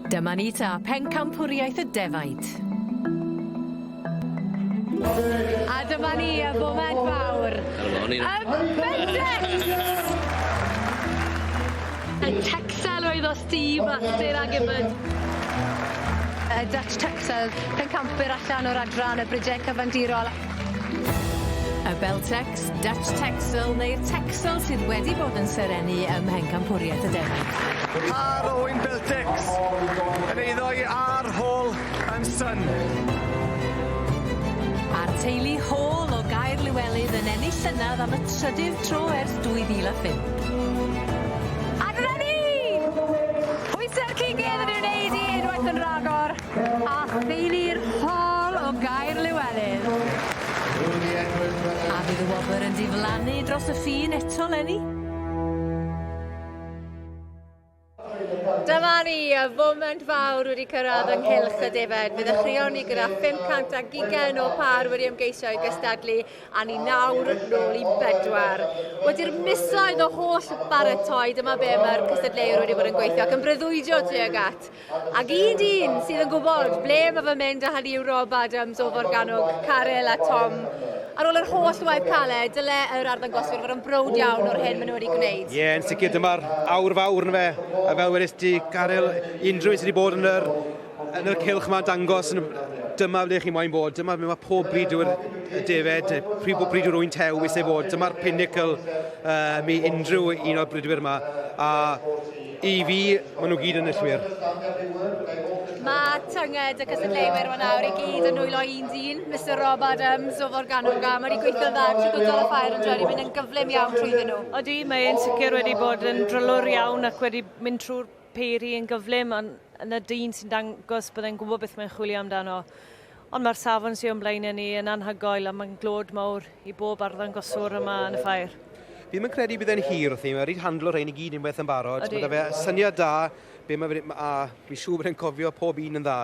Dyma ni ta, pencampwriaeth y defaid. A dyma ni, y foment fawr. Yn bendant! Y Texel oedd o Steve a Sir Agibod. Y Dutch Texel, pencampwyr allan o'r adran y brigê cyfandirol. Y Beltex, Dutch Texel neu'r Texel sydd wedi bod yn serennu ym Mhencampwriaeth y Defaid. Par Owain Beltex yn eiddo i Are Hall and Son. A'r teulu Hall o Gaer Lywelydd yn ennill llynedd am y trydydd tro ers 2005. A dyna ni! Pwyse'r cig gedd yn ei wneud i unwaith yn rhagor. A theulu'r Hall o Gaer Llewelyn. A fydd y wobr yn diflannu dros y ffin eto 'leni? Dyma ni, y foment fawr wedi cyrraedd yng nghylch y defaid. Bydd y rheoni gyda 500 ac ugain o pâr wedi ymgeisio i gystadlu a ni nawr nôl i bedwar. Wedi'r misoedd o holl baratoi, dyma be mae'r cystadleuwyr wedi bod yn gweithio ac yn breuddwydio tuag at. Ac un dyn sydd yn gwybod ble mae fy mynd â hynny yw Rob Adams o Forgannwg, Caryl a Tom. Ar ôl yr holl waith caled, dyle yr arddangoswyr fod yn browd iawn o'r hyn maen nhw wedi gwneud. Ie, yn sicr, dyma'r awr fawr yn fe, a fel wedys ti, Caryl, unrhyw un sydd wedi bod yn yr, yn yr cylch yma'n dangos yn dyma ble chi moyn bod, dyma ble mae pob bryd yw'r defed, pryd bod bryd yw'r wynt hew eisiau bod, dyma'r pinnacle um, i unrhyw un o'r bridwyr yma, a I fi, maen nhw gyd yn enillwyr. Mae tynged y cystadleuwyr yma nawr i gyd yn nwylo un dyn, Mister Rob Adams o Forgannwg, a mae wedi gweithio dda trwy gwydol y ffair yn wedi mynd yn gyflym iawn trwyddyn nhw. Odi, mae e'n sicr wedi bod yn drylwr iawn ac wedi mynd trwy'r peiri yn gyflym, ond yn y dyn sy'n dangos bod e'n gwybod beth mae'n chwilio amdano. Ond mae'r safon sy o'n blaenau ni yn anhygoel a mae'n glod mawr i bob arddangoswr yma yn y ffair. Fi ddim yn credu bydd e'n hir wrth i ni, mae wedi handlo rhein i gyd unwaith yn barod. Ydy. Mae 'da fe syniad da be mae fe, a fi'n siŵr bod e'n cofio pob un yn dda.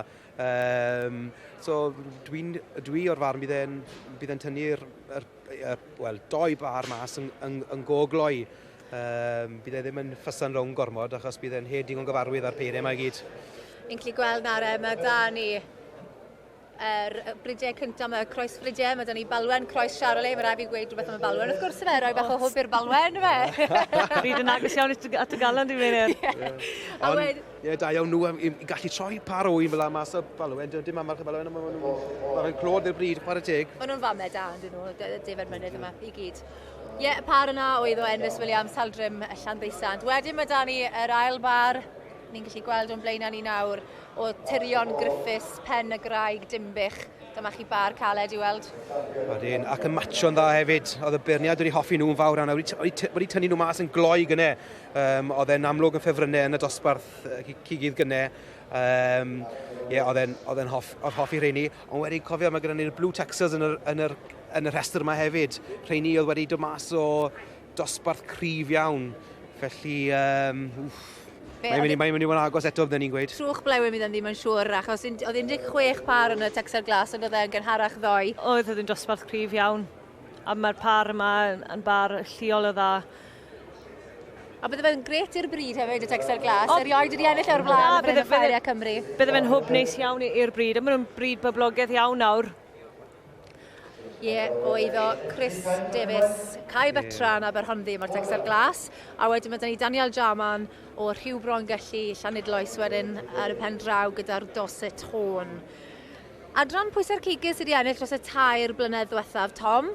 Um, so dwi'n dwi o'r farn bydd e'n bydd e'n tynnu'r er, er, wel doi bar mas yn, yn, yn go gloi. Um, bydd e ddim yn ffysa'n rownd gormod achos bydd e'n hed digon gyfarwydd â'r peiriau yma i gyd. Yn gallu gweld nawr e, mae da ni er, bridiau cyntaf, mae croes bridiau, mae da ni balwen croes Charolais, mae rhaid fi gweud rhywbeth am y balwen, wrth gwrs fe, rhoi bach o hwb i'r balwen fe. Fi yn agos iawn at y galon dwi'n mynd. Ond, ie, da iawn nhw i gallu troi par o un fel am mas o balwen, dim am march y balwen, ond maen nhw'n clod i'r bryd, par y teg. Maen nhw'n famau da, ond nhw, defaid mynydd yma, i gyd. Ie, yeah, y par yna oedd o Envis Williams, Saldrim y Llanddeisant. Wedyn mae da ni yr ail bar, ni'n gallu gweld o'n blaenau ni nawr, o Tirion Griffiths, Pen y Graig, Dimbych. Dyma chi bar caled i weld. Wedyn, ac yn matcho'n dda hefyd. Oedd y beirniad wedi hoffi nhw'n fawr yna. Wedi, wedi tynnu nhw mas yn gloi gyne. Um, oedd e'n amlwg yn ffefrynnau yn y dosbarth uh, cigydd gyne. Um, yeah, oedd e'n hoff, hoffi rheini. Ond wedi cofio mae gyda ni'r blue texas yn yr, yn yr, yn y rhestr yma hefyd. Rheini oedd wedi dod mas o dosbarth cryf iawn. Felly, um, wff, Mae'n mynd, mae'n mynd i fod yn agos eto, byddwn ni'n gweud. Trwch blewyn iddyn ddim yn siŵr, achos oedd 16 par yn y Texel Glas, ond oedd e'n gynharach ddoe. Oedd, oedd yn dosbarth cryf iawn. A mae'r par yma yn bar lliol o dda. A bydde fe'n gret i'r bryd hefyd, y Texel Glas. O, Erioed wedi ennill o'r blaen na, bydde, bydde, Cymru. Bydde fe'n hwb neis iawn i'r bryd, a maen nhw'n bryd boblogaidd iawn nawr. Ie, yeah, o iddo Chris Davies, Cai Betran a Berhonddu, mae'r Texel Glas. A wedyn mae dyn ni Daniel Jarman o Rhyw Bron Gelli, Llanidloes wedyn ar y pen draw gyda'r Dorset Horn. Adran pwysau'r cigys sydd wedi ennill dros y tair blynedd ddiwethaf, Tom?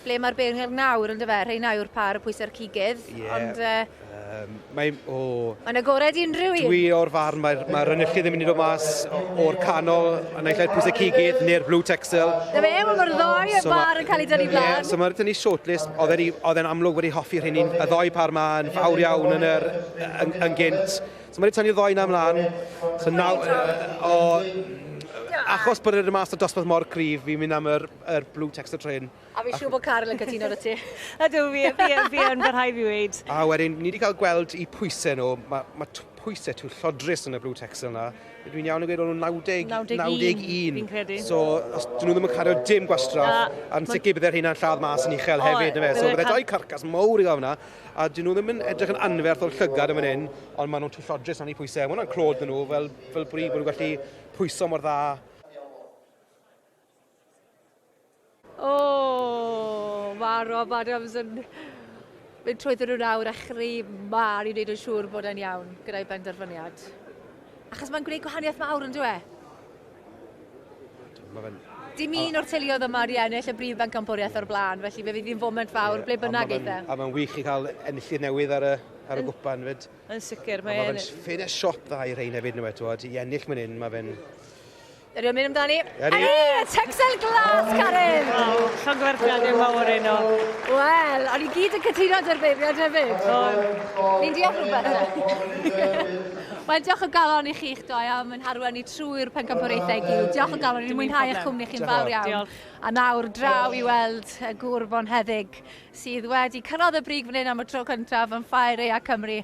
ble mae'r beirniaid nawr, yn dyfe? Rheina yw'r pa ar y pwysau'r cigydd. Ie. Ond... Uh... Um, mae... O... Mae'n agored i unrhyw un. Dwi o'r farn, mae'r mae rynychu ddim yn mynd o mas o'r canol, a naill ai'r pwysau cigydd neu'r blue texel. Na fe, mae'r ddoi so bar yn cael ei dynnu blaen. Yeah, so mae'r dynnu shortlist, oedd e'n amlwg wedi hoffi rhywun un, y ddoi par ma yn fawr iawn yn, yr, yn, yn gynt. So mae'n tynnu ddoi na mlaen. So naw... O, achos bod yr mas o dosbarth mor cryf, fi'n mynd am yr Yr blue text y trên. A fi'n siŵr bod Caryl yn cytuno da ti. Ydw, fi, fi, fi yn fy rhai fi weid. A wedyn, ni wedi cael gweld i pwysau nhw. Mae ma pwysau tu llodrus yn y blue text yna. Dwi'n iawn yn gweud o'n nhw'n 90, 91, 91. Fi'n credu. So, os dyn nhw ddim yn cario dim gwastraff, Na, a'n sicr bydde'r hynna'n lladd mas yn uchel hefyd, na fe. So, bydde dau carcas mawr i gael yna, a dyn nhw ddim yn edrych yn anferth o'r llygad yn fan hyn, ond maen nhw'n tu llodrus am eu pwysau. Mae hwnna'n clod nhw, fel, fel bod nhw'n gallu pwyso mor dda O! Mae Rob Adams yn mynd trwyddo nhw nawr a chri mân i wneud yn siŵr bod e'n iawn gyda'i benderfyniad. Achos mae'n gwneud gwahaniaeth mawr, yn dweud? Mae fe'n... Dim un o'r teuluoedd yma wedi ennill y brif bencampwriaeth o'r blaen, felly fe fydd hi'n foment fawr yeah, ble bynnag eitha. A mae'n wych i cael enillydd newydd ar y, ar y gwpan fyd. Yn sicr, mae'n... Mae fe'n ffyn e siop dda i rhain hefyd, nhw eto, i ennill mynd hyn, mae fe'n Yr ymwneud amdani. Eri! Eri! Y Texel Glas, Karen! Waw, llongyfarchiadau mawr yno. Wel, o'n i gyd yn cytuno dy'r beiriad hefyd. Ni'n diolch rhywbeth. Wel, diolch o galon i chi'ch doi am yn harwen ni trwy'r pencampwriaethau i gyd. Diolch o galon, ni'n mwynhau eich cwmni chi'n fawr iawn. A nawr, draw i weld y gŵr bonheddig sydd wedi cyrraedd y brig fan hyn am y tro cyntaf yn Ffair Rea Cymru.